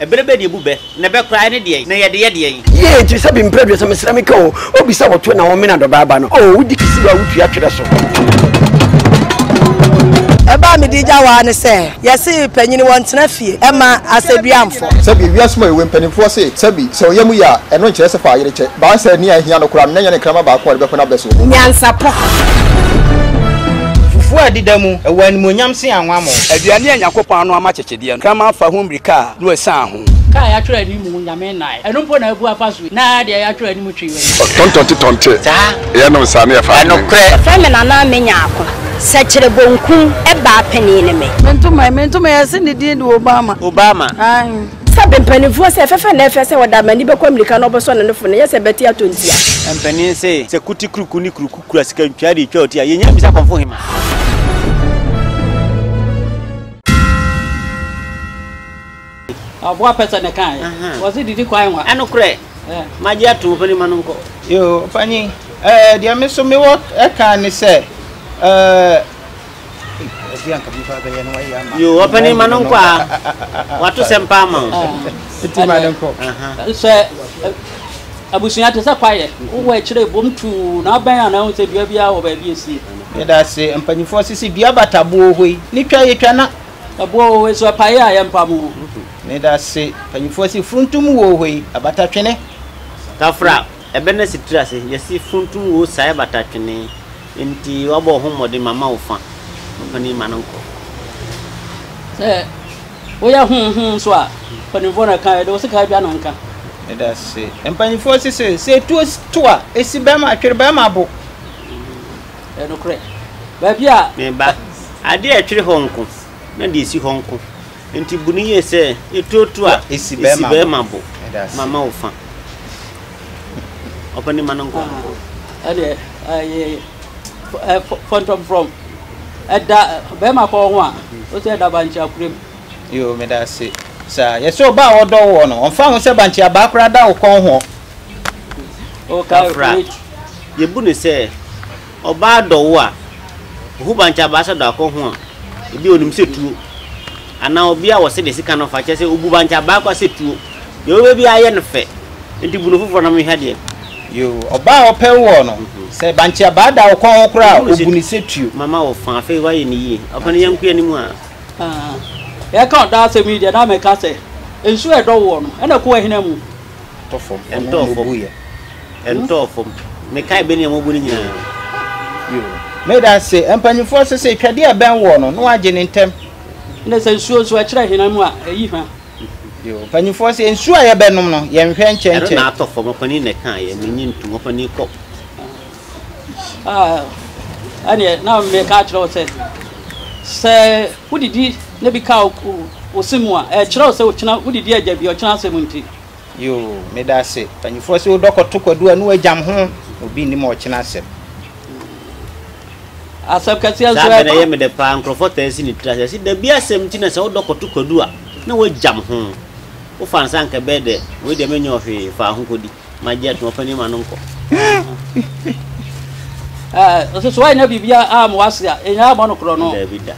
Ɛbere bɛ na ebu bɛ, na ɛbɛ koraa ɛne deɛn, na yɛde yɛ deɛn? Yie enti sɛ bi mprɛ aduasa mesrɛ me ka o obi sɛ wɔto na wɔmena dɔbaa ba no oo wodi kisi wa wotua twerɛ so. ɛbaa me di gya waa ne sɛ yɛse panyini wɔn tena fie ɛma asɛduamfo. sɛbi ewiase mu ayɛwɛ mpanimfoɔ se sɛbi sɛ ɔyɛ mu yɛ a ɛno nkyerɛ sɛ fa ayere kyɛ baa sɛ nea ɛhia no koraa no na nyɛ ne nkrama baako a ɔde bɛpɛ n'abɛ soɔ. nyansapɔ. fufuo a ɛdeda mu ɛwɔ animuonyam se anwammɔ. aduane a nyakopɔn ano ama kyekye. Deɛ nkraman fa ho mmirika a, Noa sian ho. Ka a yɛatwerɛ anim Onyame nnae. Ɛno mpo na abu afa so yi. Na deɛ yɛatwerɛ anim twe w'ani. Ɔtontonte tɔnte, yɛnom saa na yɛfa adwene. Ɛnokorɛ. Yɛfrɛ me Nana a menya ako. Sɛkyerɛ bonkum baa panin ne me. Mentom ɛ, mentom ɛ, yɛse ne din de Obama. Obama. Aane. Sɛ be mpaninfoɔ se ɛfɛfɛ na ɛfɛ sɛ ɔda amani bɛkɔ amirika na ɔbɛsɔ ne nofo no ɛnyɛ sɛ bɛte atɔ ntia. Mpanin se sɛ kuti kuruku ne kuruku kura sika ntwea de twa ɔti a, yɛnya bisa kɔmfo hema. Aboa pɛ sɛ ne kan yɛ. Wɔsi didi kwan wa. Ɛnokorɛ, magye atom ɔpanin ma no nkɔ. Yoo, ɔpanin, ɛɛ, deɛ me nso mewɔ ɛka ne sɛ, ɛɛ, ɛbi anka bi ba bɛyɛ no wayɛ ama. Yoo, ɔpanin ma no nkɔ a, wato sɛm paa ma o. Nti ma no nkɔ. Sɛ. Abusua te sɛ kwaeɛ, wowɔ akyire bom tuu na abɛn a na ahu sɛ dua biara wɔ baabi ɛsie. Yɛdase mpaninfoɔ sese dua bata boɔ hɔ yi ne twa yɛ twa na. Ɛboɔ wɔ hɔ yi so ɛpaeɛ a yɛ mpa mu. Medase mpaninfoɔ se furuntum wɔ hɔ yi abata twene. Tafra ɛbɛ na si tira se yɛse furuntum wɔ saa yɛ bata twene nti wabɔ wo ho mmɔden ma ma wo fa mpanin ma no nkɔ. Sɛ Woyɛ hum hum nso a, mpanyimfoɔ na ɛka, yɛde wo sekaa dwa no nka. Medase. Mpanyimfoɔ se se, se etuo to a, esi bɛɛma atwere bɛɛma abo. Ɛyɛ nokorɛ. Baabi a. Me ba, adeɛ a ɛtwere hɔ nko, na deɛ esi hɔ nko. Enti bu no yie sɛ, etuo to a, esi bɛɛma abo. Mama wo fa. Ɔpɛ ne mma no nko. Ɛdeɛ, ɛyɛ, fɔntɔmfrɔm. Ɛda bɛɛma kɔ ho a o sɛ ɛda bankye akura mu. Yoo meda ase saa yɛsɛ ɔba a ɔdɔ woɔ no ɔmfa ho sɛ bankye abaa koraa da wo kɔn hoɔ. O ka Kafra. preach. Yɛbu no sɛ ɔbaa dɔ wo a ɔhu bankye abaa sɛ da wo kɔn ho a ɛbia ɔnim sɛ tuo anaa ɔbia a wɔse de sika no fa kyerɛ sɛ ɔbu bankye abaa koraa sɛ tuo. Deɛ wobɛyɛ biara yɛ no fɛ nti bu no foforɔ na menhwɛ adeɛ. Yoo, ɔbaa a ɔpɛ woɔ no, sɛ bankye abaa da wo kɔn ho koraa a, ɔbu no sɛ tuo. Mama wo fa, afei woayɛ no yie. Ɔfa no yɛnkɔ anim a. Aa, yɛreka ɔdɔ asɛm yi deɛ na meka sɛ, nsuo a ɛdɔ woɔ no, ɛna ɛkɔ w'ahina mu. Ɛtɔ fam, ɔno na ɔbuiɛ. Ɛntɔɔ fam. Mekae bɛ nea wɔabu no nyinaa. Yoo, meda ase. Mpanimfoɔ se sɛ etwadeɛ a ɛbɛn woɔ no, na woagye no ntɛm. Ɛna sɛ nsuo nso, ɛkyerɛ ahina mu a, ɛyi hwa. Mpanyinfoɔ sɛ nsuo a yɛbɛnom no yɛn hwɛ nkyɛnkyɛn. Ɛno na atɔ fam ɔpanin na ɛka yɛ menye ntom ɔpanin kɔ. Ah, ɛneɛ na meka akyerɛ wo sɛ sɛ wodidi na bi ka wo se mu a ɛkyerɛ wo sɛ wokyena wodidi agya bi ɔkyena asɛm nti. Yoo medase panyinfoɔ se wodɔ kɔto kwadu a ne wagyam ho na obi nnim ɔkyena asɛm. Asɛm kɛseɛ nso ɛba. Saa bɛ na ɛyɛ me dɛ paa nkorɔfoɔ taa si ne tiri ase se dabi asɛm nti na sɛ wodɔ kɔto kwadu a ne wagyam ho wo fa nsa anka ɛbɛyɛ dɛ wei deɛ menyɛ ɔhwee fa ho kɔdi ma gyɛ to ɔpanin ma no nkɔ. Ɛɛ ɔse so wanyɛ biribi a amoa se a ɛnyaa bɔ no korɔ no. Dabi da.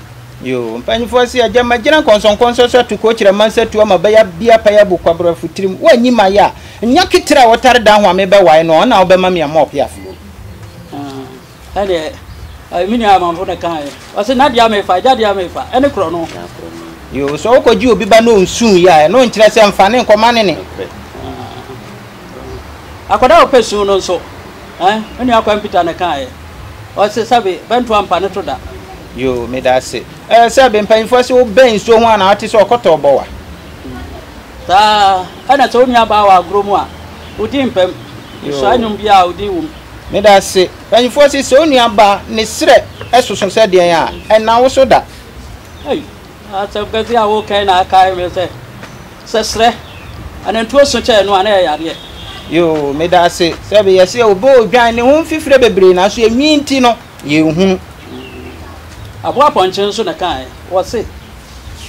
Yoo, mpanyinfoɔ se agya magyina nkɔnsɔnkɔnsɔ so ato coach rama nsa tu ama bɛya bia paya bu kwabra futirim wo anyi ma ya nya ketira wotare dan ho a me bɛ wae no ɔna ɔbɛma mia mop ya flo. Ah ɛdeɛ ɛɛ me nua amanfo na ɛka yɛ ɔse na deɛ mefa agya deɛ mefa ɛne korɔ no. Yoo sɛ ɔkɔ gye obi ba na ɔnsuu yɛ a ɛno nkyerɛ sɛ nfa ne nkɔma ne ne. Ah akɔda a ɔpɛ suu no nso ɛɛ me nua kwan pita na ɛka yɛ ɔse sɛbe bɛnto ampa ne to da. Yoo medase eh sɛ be mpanyinfoɔ se wo bɛn nsuo ho a na wate sɛ ɔkɔtɔɔ bɔ wa. Saa ɛna sɛ wo nua baa wɔ agorɔ mu a wo din mpɛm nsua nnwom biaa a wo din wom. Medase mpanyinfoɔ se sɛ wo nua baa ne serɛ soso sɛ deɛn a ɛna wo so da. Ei asɛm kɛseɛ a wo kɛn na akae me sɛ sɛ serɛ anantuo so kyɛɛ no a na ɛyɛ yadeɛ. Yoo medase sɛ be yɛse obe odwan ne ho mfifire bebree nanso enwii nti no. yɛnhunu. Aboa pɔnkye nso na ɛka ɛ. Wɔse,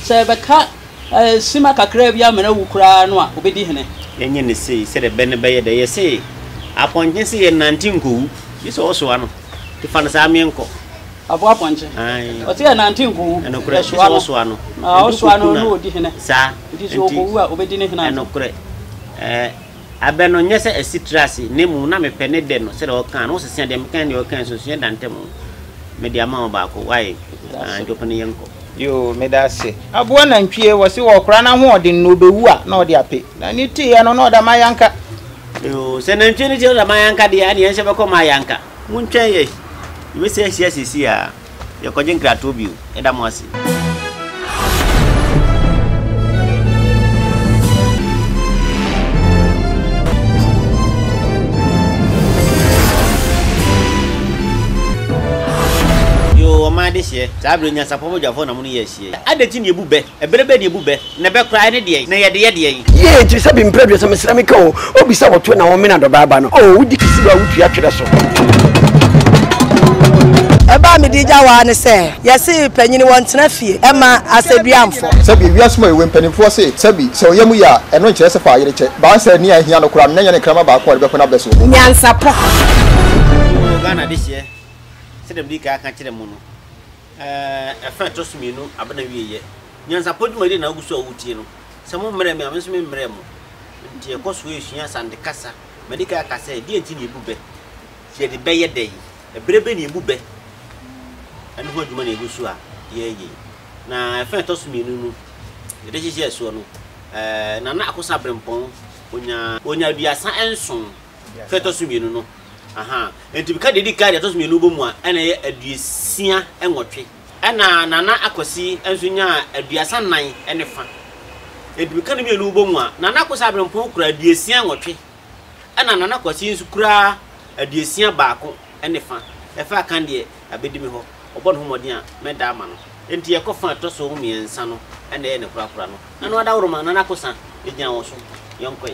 sɛ yɛbɛka sima kakraa bi amena wu koraa no a, ɔbɛdi hene. Yɛnyɛ no sei sɛdeɛ bɛ no bɛyɛ dɛ. Yɛse, apɔnkye se yɛnnante nkɔwu. Gye sɛ ɔsoa no. Nti fa no saa meɛ nkɔ. Aboa pɔnkye. Ae. Ɔse yɛnnante nkɔwu. Ɛnokorɛ. Gye sɛ ɔsoa no. Na ɔsoa no na ɔdi hene. Saa. Nti sɛ ɔkɔwu a, ɔbɛdi ne hene ansa. Ɛnokorɛ. Ɛɛ. Abɛ no nyɛ sɛ asi tra ase, na mmom na mepɛ ne dɛ no sɛdeɛ ɔkaa no. Wosesea deɛ meka ne deɛ ɔkae nso, nsuiɛ da ntam. Mede ama wo baako. Wae, Njoku no yɛnkɔ. Yoo, meda ase. Aboa nantwie, wɔse wɔkora no ahoɔden na ɔbɛwu a, na ɔde ape. Na ne teeɛ no, na ɔda Mayanka. Yoo, sɛ nantwie no teeɛ na ɔda Mayanka deɛ a, ɛneɛ yɛnhyɛ bɛkɔ Mayanka. Montwɛn yɛ, yɛbɛsi ahyia seesei ara. Yɛkɔgye nkratoɔ bio. Yɛda mo ase. Yoo ɔman adehyeɛ. Saa berɛ nyansapɔbɔdwafoɔ na mo ne yɛ ahyiayi. Adɛn nti na yɛbu bɛ? Ɛbere bɛn na ebu bɛ, na ɛbɛ koraa ɛne deɛn, na yɛde yɛ deɛn? Yie enti sɛ bi mprɛ aduasa mesrɛ me ka o obi sɛ wɔto na wɔmena dɔbaa ba no oo wodi kisi ba wotua twerɛ so. Ɛbaa me di gya waa ne sɛ yɛse panyini wɔn tena fie ɛma asɛdua mfɔ. Sɛbi ewiase mu a yɛwɔ yi mpaninfoɔ se sɛbi sɛ ɔyɛ mu yɛ a ɛno nkyerɛ sɛ fa ayere kyɛ baa sɛ nea ɛhia no koraa no na nyɛ ne nkrama baako a ɔde bɛkɔ n'abrɛ soɔ. Nyansapɔ. Yoo Ghana adehyeɛ sɛdeɛ medi kan aka akyerɛ mo no. Ɛfa a ɛtɔ so mmienu aba n'awieeɛ. Nyansapɔ dwumadie na wogu so a woretie no. Sɛ mommrɛɛ me a, me nso meremmrɛɛ mo. Enti yɛkɔ so resua Asante kasa. Madi kan aka sɛ, deɛn nti na yɛbu bɛ? Yɛde bɛ yɛ dɛn? Ɛberɛ bɛn na yɛbu bɛ? Ɛno ho adwuma na ɛgu so a yɛreyɛ yi. Na ɛfa a ɛtɔ so mmienu no, yɛde hyehyɛɛ soɔ no, Nana Akosa Aberempɔn, ɔnyaa aduasa nson. Sɛ ɛtɔ so mmienu no, aha, enti meka deɛ ɛdi kan, deɛ ɛtɔ so mmienu bɔ mu a, ɛna ɛyɛ aduosia nwɔtwe. Ɛna Nana Akwasi nso nyaa aduasa nnan ne fa. Enti meka ne mmienu bɔ mu a, Nana Akosi Abrempong kura aduosia nwɔtwe, ɛna Nana Kwasi nso kura aduosia baako ne fa. Ɛfa a kan deɛ, abɛdi me hɔ, ɔbɔ ne ho mmɔden a, mɛda ama no. Enti yɛkɔ fa a ɛtɔ so mmiɛnsa no, ɛna ɛyɛ ne korakora no. Ɛno adaworo ma Nana Akosa gyina wo so. Yɛnkɔe.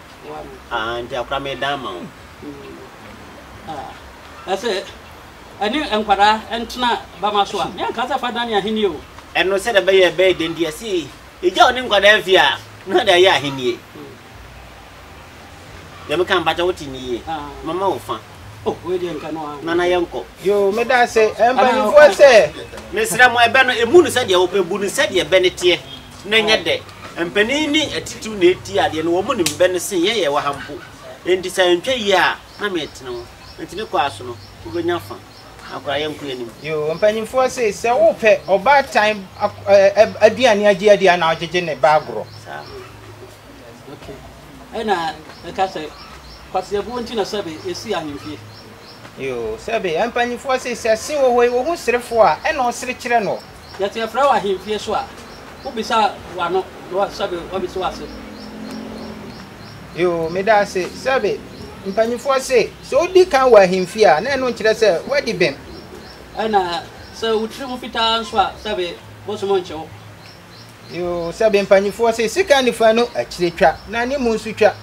Aane, nti akora meedan ama wo. Ɛse ɛne nkwadaa ntena bama so a, meanka sɛ fa dane ahennie o. Ɛno sɛdeɛ ɛbɛyɛ ɛbɛyɛ den deɛ, ɛse egya a ɔne nkwadaa mfie a, na ɔde ayɛ ahennie. Deɛ meka no, mpakyɛ wote me yie? Mama wo fa. Oh, wei deɛ nka no a. Nana yɛnkɔ. Yoo meda ase mpanyinfoɔ sɛ. Mesrɛ mo ɛbɛ no emu no sɛdeɛ wopɛ bu no sɛdeɛ ɛbɛ no teɛ na ɛnyɛ dɛ. Mpanin ne atitiriw na ɛti adeɛ no wɔn nim bɛ no sen yɛn yɛwɔ ha mpo. Enti sɛ antwa yie a na metene wo. Enti ne kɔ ara so no wobɛnya fa. Akora yɛnkɔ yɛn anim. Yoo mpanyinfoɔ se sɛ wopɛ ɔbaatan aduane agye adi a na ɔgyegye ne ba agorɔ. Saa. Ɛna ɛka sɛ, Kwaseɛbuo nti na sɛbe ɛsii ahemfie. Yoo, sɛbe yɛn mpanyimfoɔ se, sɛ se wɔ hɔ yi, wɔhu serefoɔ a, ɛna ɔsere kyerɛ no. Yɛte yɛfrɛ wo ahemfie so a, wobisa w'ano, na sɛbe wɔbisa wo ase. Yoo, meda ase, sɛbe mpanyimfoɔ se, sɛ wodi kan wɔ ahemfie a, na ɛno nkyerɛ sɛ woadi bem. Ɛna sɛ wo tiri ho fitaa nso a, sɛbe bosom nkye wo. Yoo, sɛ bɛ mpanimfoɔ se sika nifa no akyire twa, na ne mu nso twa.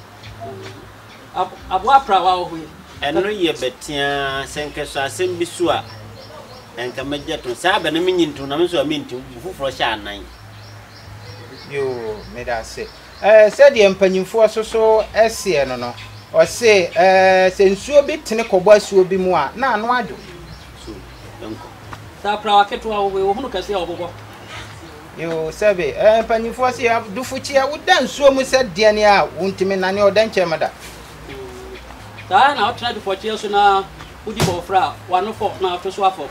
Aboa aprawa wɔ hɔ yi. Ɛno yɛ bɛ teaa, sɛ nkɛ sɔ asɛm bi so a, ɛnkɛ me gyɛ to. Saa bɛ na me nyi nto, na me nso a me nti, bo foforɔ hyɛ anan. Yoo, meda ase. Ɛɛ, sɛdeɛ mpanimfoɔ so so seɛ no no, ɔse, ɛɛ, sɛ nsuo bi tene kɔbɔ asuo bi mu a, na ano adwo. So yɛnkɔ. Sɛ aprawa ketewa wo wei, wohunu kɛseɛ a ɔbobɔ. Yoo, sɛbe, ɛɛ, mpanimfoɔ se, Dufukyeɛ, woda nsuo mu sɛ deɛn a wontumi nnane ɔdɛnkyɛm da. Saa ara na wotena dufɔkyeɛ so na wodi bɔɔfrɛ a, w'ano fɔ na woto so afɔ.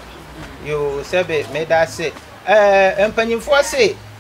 Yoo, sɛbe, meda ase. Ɛɛ, mpanimfoɔ se,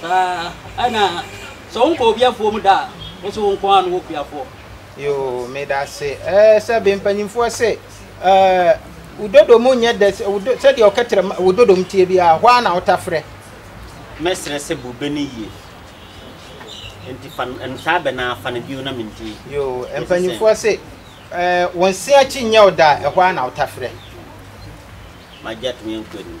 Saa ɛna sɛ wo nkɔ obi afuom da a, wo so wo nko ara na wɔ kuafoɔ. Yoo medase ɛɛ sɛ be mpanyinfoɔ se ɛɛ wo dodo mu nyɛ dɛ sɛ deɛ ɔkɛtrɛ wo dodo mu tie bi a hɔ ara na wo ta frɛ. Mɛsrɛ sɛ bu be no yie nti fa no ntaa bɛ naa fa no bio na menti. Yoo mpanyinfoɔ se ɛɛ wo nse akyi nyɛ wo da a hɔ ara na wo ta frɛ. Magya tumi nkɔ anim.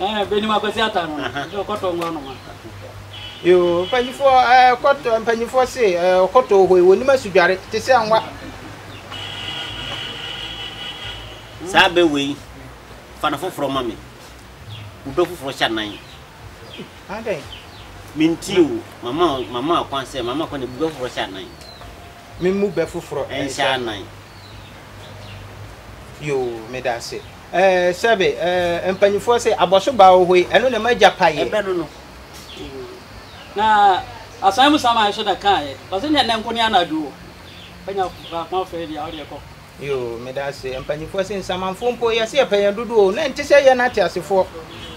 Ɛɛ benim akwasi ata no ɛsɛ ɔkɔtɔ ngo anoma. Yoo mpanyinfoɔ ɛɛ kɔtɔ mpanyinfoɔ se ɛɛ ɔkɔtɔ wɔ hɔ yi wɔnim asudware te sɛ anwa. Saa bɛ wei fa no foforɔ ma me wo bɛ foforɔ hyɛ nan. Adɛn. Menti o mama mama akwan sɛ mama akwan na bu bɛ foforɔ hyɛ nan. Memu bɛ foforɔ nhyɛ nan. Yoo meda ase. Ɛɛ sɛbe ɛɛ mpanyimfoɔ se, Abɔso baa wɔ hɔ yi, ɛno na m'agya paeɛ. Ɛbɛ no no. Na asan mu saman nso na kaeɛ. Ɔse neɛ nnɛ nko ne anadwo o. Anya baako afei deɛ a, wodeɛ kɔ. Yoo, meda ase. Mpanyimfoɔ se, Nsamanfoɔ mpo, yɛse yɛpɛ yɛn dodoɔ o, na ɛnte sɛ yɛn ateasefoɔ.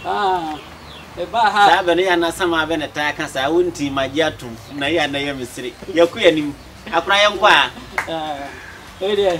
Haa, mebaa ha. Saa bɛ no yɛ na saman bɛ na taa ka saa, wo nti magye atom, na yɛ na yɛ me sere. Yɛkɔ yɛn anim. Akora yɛnkɔ a. Ɛɛ, wei deɛ.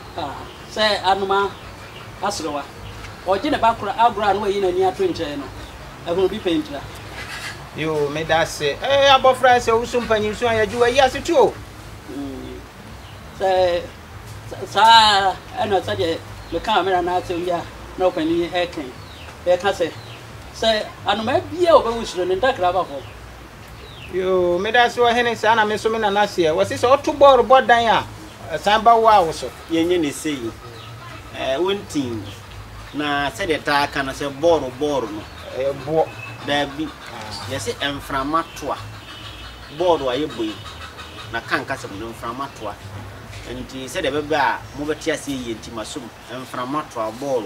Ah, sɛ Anoma aserewa. Ɔregye ne ba koro agorɔ a na wayi n'ani ato nkyɛn no, ahunu bi pɛntira. Yoo, meda ase. Ɛɛ, abɔfra a sɛ wo so mpanyinso a yɛgye w'ayi ase tu o. Mm, sɛ saa ɛna sɛdeɛ mekaa mmerɛ no asɛm bi a na ɔpanin ɛkɛn, yɛka sɛ, sɛ Anoma bia ɔbɛwu suro no ntakra aba fam. Yoo medase ɔhene saa na me nso me nana seɛ wɔse sɛ ɔto bɔɔl bɔ dan a ɛsan ba wo a wo so. Yɛnyɛ ne sei ɛɛ wontin na sɛdeɛ taa ka no sɛ bɔɔl bɔɔl no ɛyɛ boɔ daabi yɛse mframa toa bɔɔl a yɛbɔ yi na ka nkasɛm no mframa toa nti sɛdeɛ ɛbɛbɛ a mobɛte aseɛ yie nti masom mframa toa bɔɔl.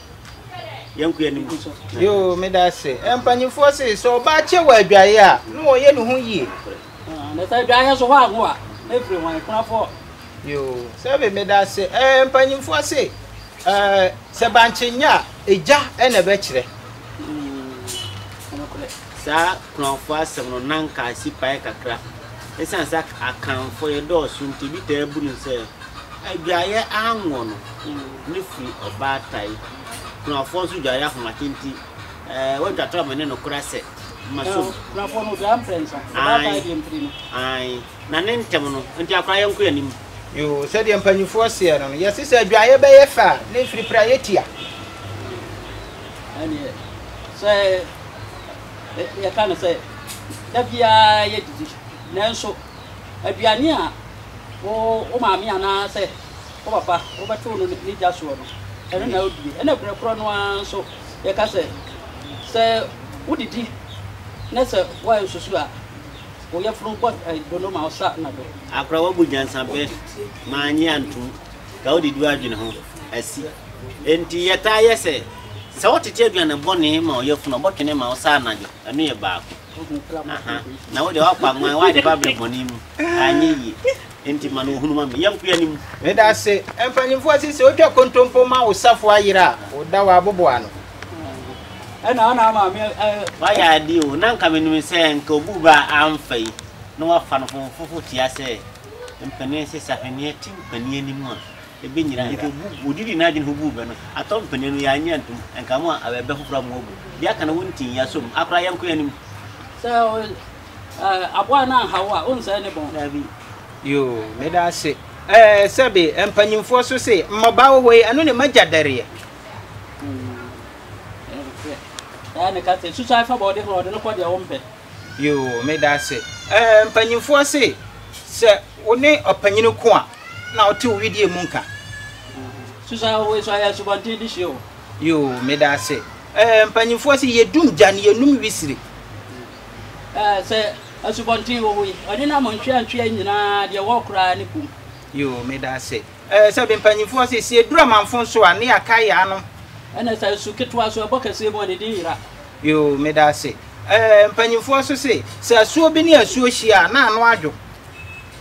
yɛnkɔ yɛn anim so. yoo meda ase eh, mpanyinfoɔ se sɛ ɔbaa kyɛ wɔ adwaeɛ a na wɔyɛ ne ho yie. Ah, na sɛ adwaeɛ so hɔ ago a na ɛfiri wɔn akunafoɔ. yoo sɛbe meda ase eh, mpanyinfoɔ se eh, sɛ bankye nyɛ a egya na ɛbɛkyerɛ. Mm, Saa Kur'anfoɔ asɛm no na anka asi paɛ kakra. Esiane sɛ Akanfoɔ yɛdɔɔso nti, ebi taa bu no sɛ adwaeɛ anwɔ no ne firi ɔbaatae. Kur'anfoɔ nso dwaeɛ ahomakye nti, eh, wɔatwa to amene no kora sɛ, Ma som. Eh, Kur'anfoɔ no dwaeɛ mprɛnsa, ɔbaatae deɛ mpire no. Aane, na ne ntɛm no, enti akora yɛnkɔ yɛn anim. Yoo, sɛdeɛ mpanimfoɔ seɛ no no, yɛse sɛ adwaeɛ bɛyɛ fɛ a, na ɛfiri piraeɛ tia. Ɛnneɛ, sɛ yɛka no sɛ da biara yɛ didi nanso aduane a wo wo maame anaasɛ wo papa wobɛto no ne gya soɔ no ɛno na wodie ɛna berɛ korɔ no ara nso yɛka sɛ sɛ wodidi na sɛ woayɛ nsusu a wo yɛfunu bɔ dono ma ɔsa na do akora wabu nyansapɛ ma anye antom ka wode du adwene ho asi Enti yɛtaa yɛ sɛ, sɛ wotete aduane bɔne ma ɔyafunu a, ɔbɔtwene ma wo saa anadwo. Ɛno yɛ baako. Aha. Na wo deɛ woakɔ anwan, woayɛ ba berɛ bɔne mu. Anyɛ yie. Enti ma no ɔhunu ma me. Yɛnkɔ yɛn anim. Meda ase. Mpanimfoɔ se sɛ wotwa kontompo ma wo safoa yere a, woda wo aboboa ano. Ɛna wo na ama me a. Woayɛ adeɛ o. Na nka menim sɛ nka obu ba a amfa yi na wafa no fofofo tia sɛ mpanin se sahweneɛ te mpanin anim a Ebe nyina nka gu wodidi n'adwen ho guu bɛ no, atɔ mpanin no yɛannye antom, nka mo a awɛbɛ ho kora mo abu, de aka no wo ntin yɛasɔ mu, akora yɛnkɔ yɛn anim. Sɛ aboa no anha wo a, wonsɛe ne bɔn? Dabi. Yoo, meda ase. Ɛɛ, sɛbe mpanyimfoɔ so se, mmabaa wɔ hɔ yi, ɛno ne m'agya dɛreɛ. Ɛɛ, ne ka sɛ, susuae fa bɔɔde ho, ɔde no kɔ deɛ wo mpɛ. Yoo, meda ase. Ɛɛ, mpanyimfoɔ se, sɛ wo ne ɔpanyin ko a, Na ɔte wo wedeɛ mu nka. Susan wei so ayɛ asubɔnten de hwie o. Yoo meda ase ɛɛ mpanyinfoɔ se yɛdum gya no yɛnum wisire. Ɛɛ sɛ asubɔnten wɔ hɔ yi ɔne nam ntweantwea nyinaa deɛ ɛwɔ koraa ne kum. Yoo meda ase ɛɛ sɛ bi mpanyinfoɔ se sɛ yɛduru amanfo nso a ne yɛakae yɛn anom. Ɛna sɛ asu ketewa so ɛbɔ kɛseɛ mu a ne din yera. Yoo meda ase ɛɛ mpanyinfoɔ nso se sɛ asuo bi ne asuo hyia a na ano adwo.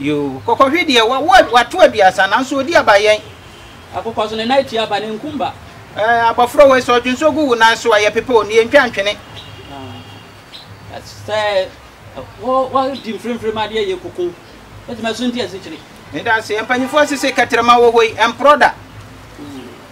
Yoo, kɔkɔhwe deɛ wa wa wato aduasa nanso ɔdi aba yɛn. Akokɔ so ne nan tua aba ne nkum ba. Ɛɛ abɔfra wei sɛ ɔdwonsɔ gu wo nan so a yɛpepa o, nea ntwa ntwene. Ah, sɛ wɔ wɔdi mfremfrem adeɛ yɛ koko, ɛtumi asunti asikyire. Meda ase, mpanyinfoɔ sese kɛtrɛma wɔ hɔ yi, ɛmporɔ da.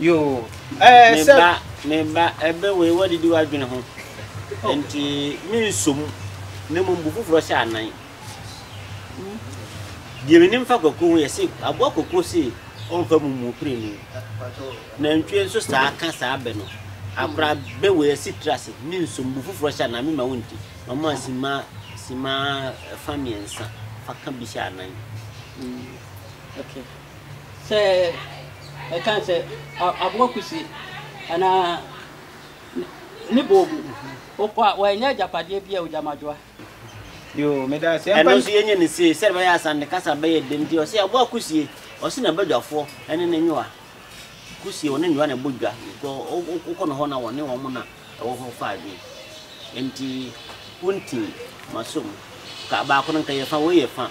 yoo ɛɛ eh, sɛ. meba meba ɛbɛ wei wadidi wadwene ho oh. nti mensɔ mu na mmom bu foforɔ hyɛ anan deɛ menim fa kwakuo ho yɛ se aboa kwakuo se ɔmfa mu mu pere ni nantwie nso saa ka saa bɛ no akora bɛ wei asi tiri ase mensɔ mu bu foforɔ hyɛ anan mema wo nti na ɔma sima sima fa mmiɛnsa fa ka bi hyɛ anan mm. okay. Sɛ yɛka sɛ aboa kusi anaa ne boobu, wokɔ a wɔanya agyapadeɛ bi a ogya ma dwoa. Yoo, meda ase. Ɛno Ɛmpa nso yɛnyɛ no sie sɛdeɛ ɛbɛyɛ a Asante kasa bɛyɛ dɛ nti ɔse aboa kusie ɔse na badwafoɔ ɛne ne nwoa kusie wɔne nwoa na ɛbɔ dwa kɔ wokɔ no hɔ na wɔne wɔn na ɛwɔ hɔ fa adwene nti wonti masom ka baako no nka yɛ fa wei yɛ fa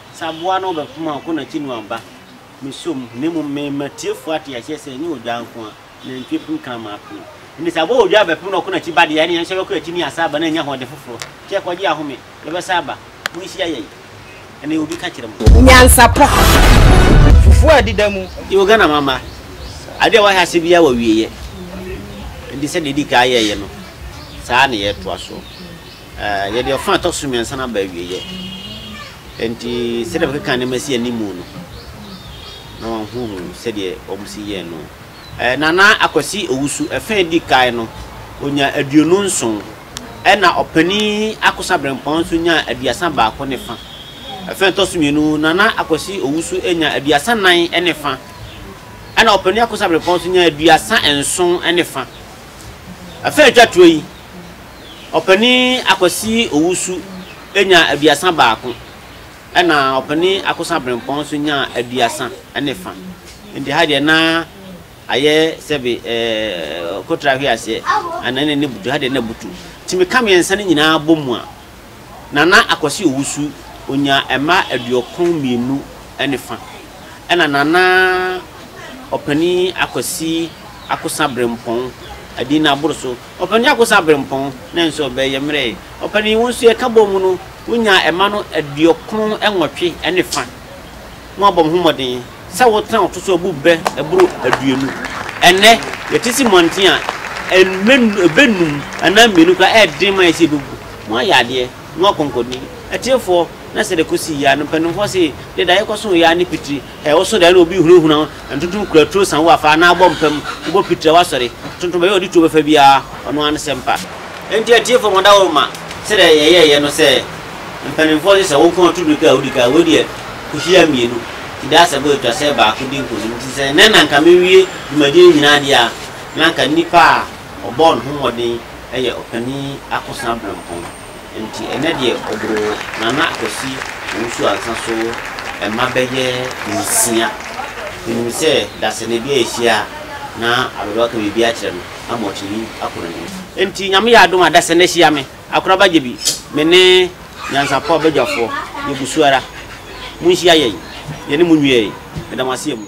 Sɛ aboa no ɔbɛ fom a ɔkɔ nakyi no aba, me sɔ mu, na mmom me ma tiefo ate aseɛ sɛ ɛnyɛ odwa nko a nantwie pem kra maa pem. Ɛnti sɛ aboa odwa ɔbɛ pem na ɔkɔ nakyi ba deɛ, ɛne yɛn nso yɛbɛkɔ akyi ne yɛasan aba na yɛanya ahoɔden foforɔ. Kyɛ ɛkɔ gye ahome, yɛbɛsan aba, monhyia yɛn, ɛne obi ka kyerɛ mo. Nyansapɔ, fufuo a ɛdeda mu. Yɛwɔ Ghana ma mma, adeɛ a wɔahyɛ aseɛ biara wɔ awieɛ, ɛnti sɛdeɛ yɛdi kan yɛɛyɛ no, saa ara na yɛɛtoa soɔ. Yɛde ɔfã a ɛtɔ so mmiɛnsa no aba awieeɛ. Enti sɛdeɛ bɛkeka nneɛma si anim no, na wɔahunu sɛdeɛ wɔsi yɛɛ no. Nana Akwasi Owusu, ɛfã a ɛdi kan no, ɔnyaa aduonu nson, ɛnna Ɔpanin Akosa Brempɔn nso nyaa aduasa baako ne fã. Ɛfã a ɛtɔ so mmienu, Nana Akwasi Owusu nyaa aduasa nnan ne fã, ɛnna Ɔpanin Akosa Brempɔn nso nyaa aduasa nson ne fã. Ɛfã a ɛtwa toɔ yi, Ɔpanin Akwasi Owusu nyaa aduasa baako, ɛna Ɔpanin Akosa Brempɔn nso nyaa aduasa ne fa. Nti ha deɛ na ayɛ sɛbe ɛɛ Kotra Hweaseɛ anaa na ne butu, ha deɛ na butu. Nti meka mmiɛnsa no nyinaa bɔ mu a, Nana Akwasi Owusu ɔnyaa mma aduokron mmienu ne fa, ɛna Nana Ɔpanin Akwasi Akosa Brempɔn, Adinna Aboroso, Ɔpanin Akosa Abrempong no nso, ɔbɛn yɛ mmerɛɛ. Ɔpanin, wo nso yɛka bɔɔ mu no, wonyaa ɛma no aduokron nwɔtwe ne fa. Mo abɔ mo ho mmɔden sɛ wotena ɔto so abu berɛ ɛboro aduonu. Ɛnnɛ, yɛte si mmɔnten a, ɛbɛ num anaa mmienu koraa, ɛyɛ den ma yɛ sɛ yɛbɛgu. Mo ayɛ adeɛ, mo akɔnkɔnni. Atiefoɔ, na sɛdeɛ ɛkɔsii yi ara no, mpaninfoɔ se, deɛ daeɛ kɔsoo yi ara ne pitire. Ɛwɔ so dɛn na obi hunahuna ntontom kura tuo sa wo afa anaa bɔ mpam bɔ pitira w'asɔre ntontom baabi a ɔde tuo bɛfa biara ɔno ara ne sɛ mpa. Enti atiefo mo daworo ma sɛdeɛ yɛyɛeɛ no sɛ mpaninfoɔ gye sɛ wo nko ara tu mirika a wodi kan wei deɛ kuhyia mmienu ti da sɛ bɔ atwa sɛ baako di nkonim nti sɛ nnɛ na anka mewie dwumadie no nyinaa deɛ a na anka nipa a ɔbɔɔ ne ho mmɔden yɛ ɔpanin akosena berempɔn. Nti ɛnɛ deɛ ɔboro Nana Kwasi Owusu Ansah so mma bɛyɛ nsia. Menim sɛ dasani bi a yɛhyia a na Aberewa aka biribi akyerɛ no ama watumi akɔ n'anim. Nti Nyame yɛ adom a dasani ahyia me, Akoraba Gyebi, me ne Nyansapɔ Badwafoɔ, yɛgu so ara. Monhyia yɛn, yɛne mo nwie. Meda mo ase amu.